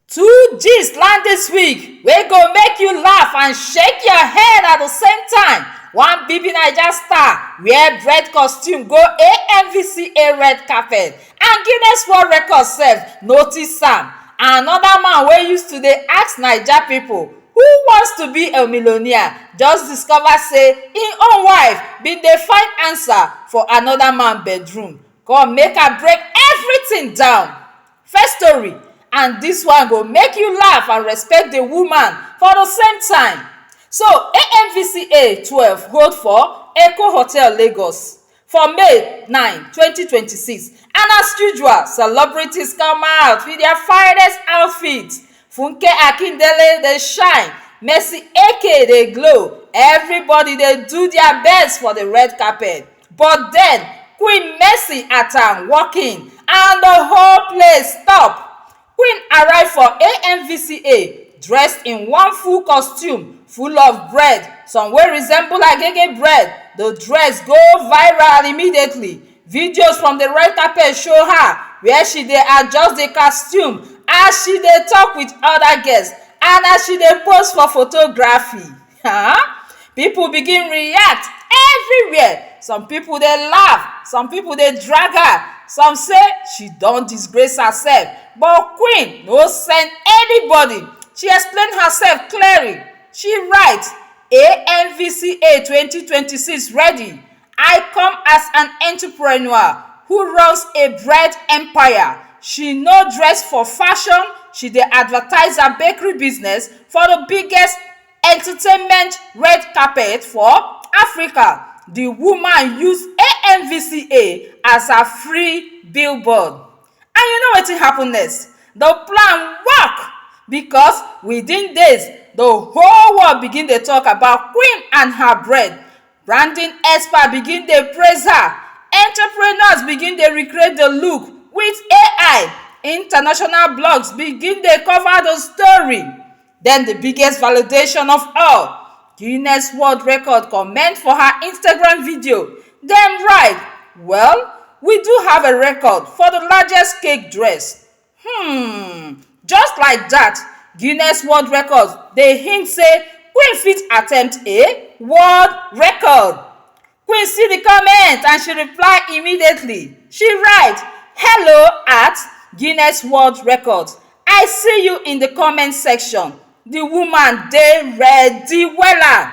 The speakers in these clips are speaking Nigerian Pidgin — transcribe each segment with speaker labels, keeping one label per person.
Speaker 1: Two gist land this week wey go make you laugh and shake your head at the same time. One BB Naija star wear red costume go AMVCA red carpet and Guinness World Record sef notice am. Another man wey used to dey ask Naija people who wants to be a millionaire just discover say im own wife bin dey find answer for another man bedroom. Come make I break everything down. First story and this one go make you laugh and respect the woman for the same time. So AMVCA twelve hold for Eko Hotel Lagos for May nine twenty twenty six and as usual celebrities come out with their finest outfit. Funke Akindele dey shine, Mercy Eke dey glow, everybody dey do their best for the red carpet. But then, Queen Mercy Atta walk in and the whole place stop. Queen arrive for AMVCA dressed in one full costume full of bread, some wey resemble agege bread. The dress go viral immediately. Videos from the red carpet show her where she dey adjust the costume as she dey talk with other guests and as she dey pose for photography. um people begin react everywhere some people dey laugh some people dey drag her some say she don disgrace herself but queen no send anybody she explain herself clearing she write AMVCA twenty twenty six ready I come as an entrepreneur who runs a bread empire. She no dress for fashion, she dey advertise her bakery business for the biggest entertainment red carpet for Africa. The woman use AMVCA as her free billboard. And you know wetin happen next? The plan work because within days, the whole world begin dey talk about Queen and her bread. Branding experts begin dey praise her, entrepreneurs begin dey recreate the look with AI, international blogs begin dey cover the story. Then the biggest validation of all, Guinness World Record comment for her Instagram video. Dem write, Well, we do have a record for the largest cake dress. um just like dat guinness world records dey hint say queen fit attempt a world record queen see di comment and she reply immediately she write hello at guinness world records i see you in di comment section di woman dey ready wella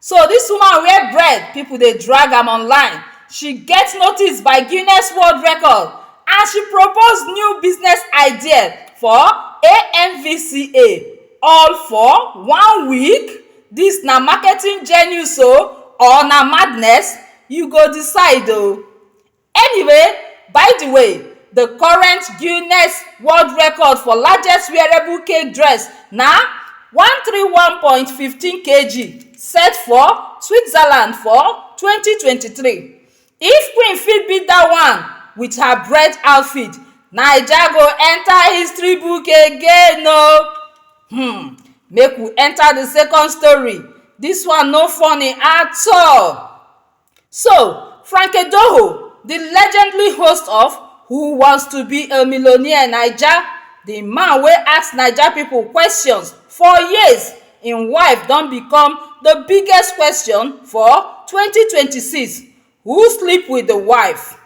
Speaker 1: So dis woman wear bread, pipo dey drag am online, she get notice by Guinness World Record and she propose new business idea for AMVCA all for one week? Dis na marketing genius o or na madness? You go decide o. Anyway, by di way, di current Guinness World Record for largest wearable cake dress na one three one point one five kg set for Switzerland for twenty twenty three. If Queen fit beat dat one wit her bread outfit, Naija go enta history book again o! Hmm, make we enta di second story, dis one no funny at all. So, Frankie Doho, the legendary host of Who Wants to Be a Millionaire Naija, the man wey ask Naija people questions for years, im wife don become the biggest question for 2026. Who sleep with the wife?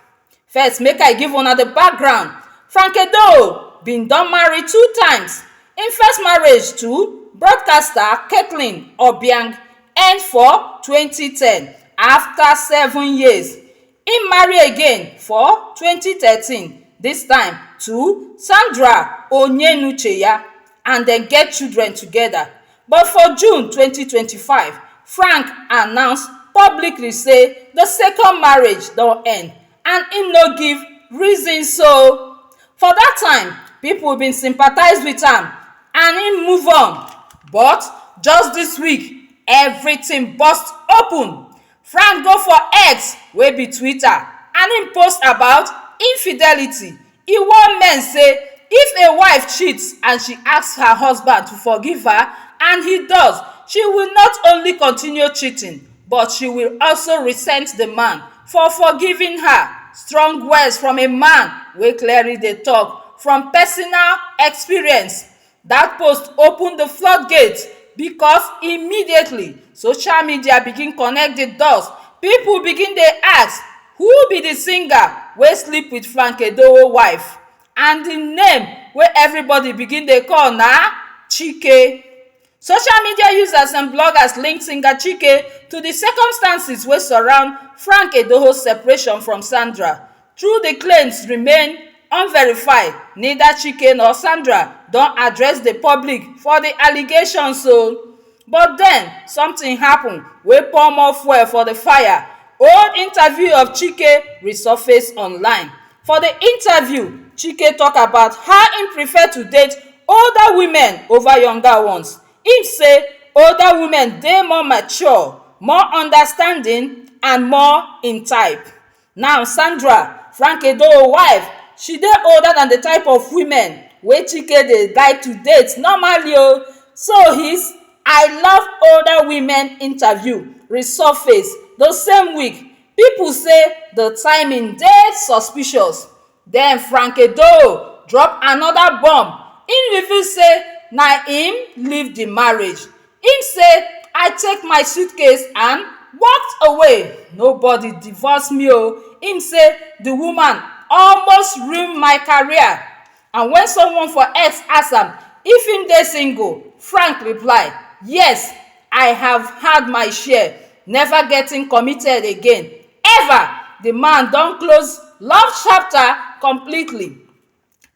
Speaker 1: First, make I give una the background. Frank Edo bin don marry two times. Im first marriage to broadcaster Caitlin Obiang end for 2010. After seven years, im marry again for 2013, dis time to Sandra Onyenucheya and dem get children together. But for June twenty twenty five, Frank announce publicly say di second marriage don end and im no give reasons so for dat time pipo bin sympathise wit am and im move on but just dis week evritin burst open Frank go for X wey be Twitter and im post about infidelity, e warn men say if a wife cheats and she asks her husband to forgive her and he does, she will not only continue cheating but she will also resent the man for forgiving her. Strong words from a man wey clearly dey talk from personal experience. Dat post open di flood gate because immediately social media begin connect di dots, pipu begin dey ask who be di singer wey sleep with Frank Edoho wife and di name wey everybody begin dey call na Chike. Social media users and bloggers link singer Chike to di circumstances wey surround Frank Edoho separation from Sandra. Though di claims remain unverified, neither Chike nor Sandra don address di public for di allegations o. But den, something happen wey pour more fuel for di fire, old interview of Chike resurface online. For di interview, Chike talk about how im prefer to date older women over younger ones. Im say older women dey more mature, more understanding and more im type. Now Sandra, Frank Edoho wife, she dey older than the type of women wey Chike dey like to date normally o. So his I love older women interview resurface the same week. People say the timing dey suspicious. Den Frankie Doe drop anoda bomb, im reveal say na im leave di marriage. Im say, I take my suitcase and walked away, nobody divorce me o. Im say di woman almost ruin my career and wen someone for X ask am if im dey single, Frank reply, Yes, I have had my share, never getting committed again. However, di man don close love chapter completely.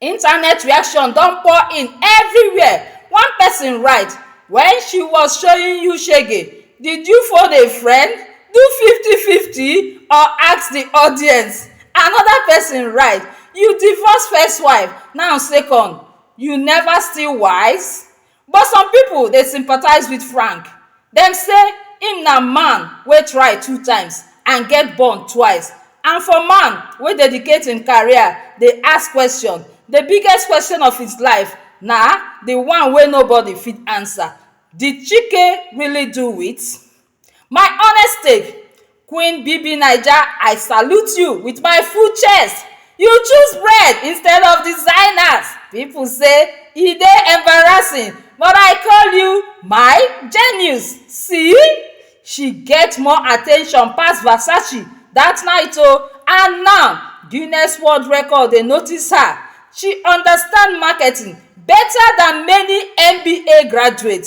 Speaker 1: Internet reaction don pour in evriwia, one pesin write, When she was showing you shege, did you phone a friend, do fifty fifty or ask di audience? Anoda pesin write, You divorce first wife, now second, you neva still wise? But some pipo dey sympathize wit Frank, dem say im na man wey try two times and get burned twice and for man wey dedicate im career dey ask kwesion, di biggest kwesion of his life na di one wey nobody fit ansa, Did Chike really do it? My honest take, Queen BBNaija I salute you with my full chest, you choose bread instead of designers, people say e dey embarrassing but I call you my genius, see she get more attention pass Versace that night o and now Guinness world record dey notice her, she understand marketing better than many MBA graduate.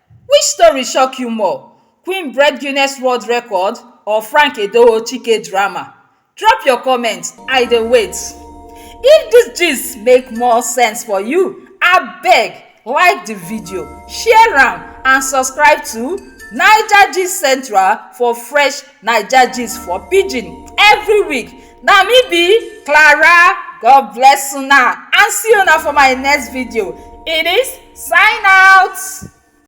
Speaker 1: Which story shock you more, Queen break Guinness world record or Frank Edoho Chike drama? Drop your comment, I dey wait. If dis gist make more sense for you, abeg like di video, share am and subscribe to Naija Gist Central for fresh Naija gist for pidgin every week. Na me be Clara, God bless una and see una for my next video. Eunice sign out.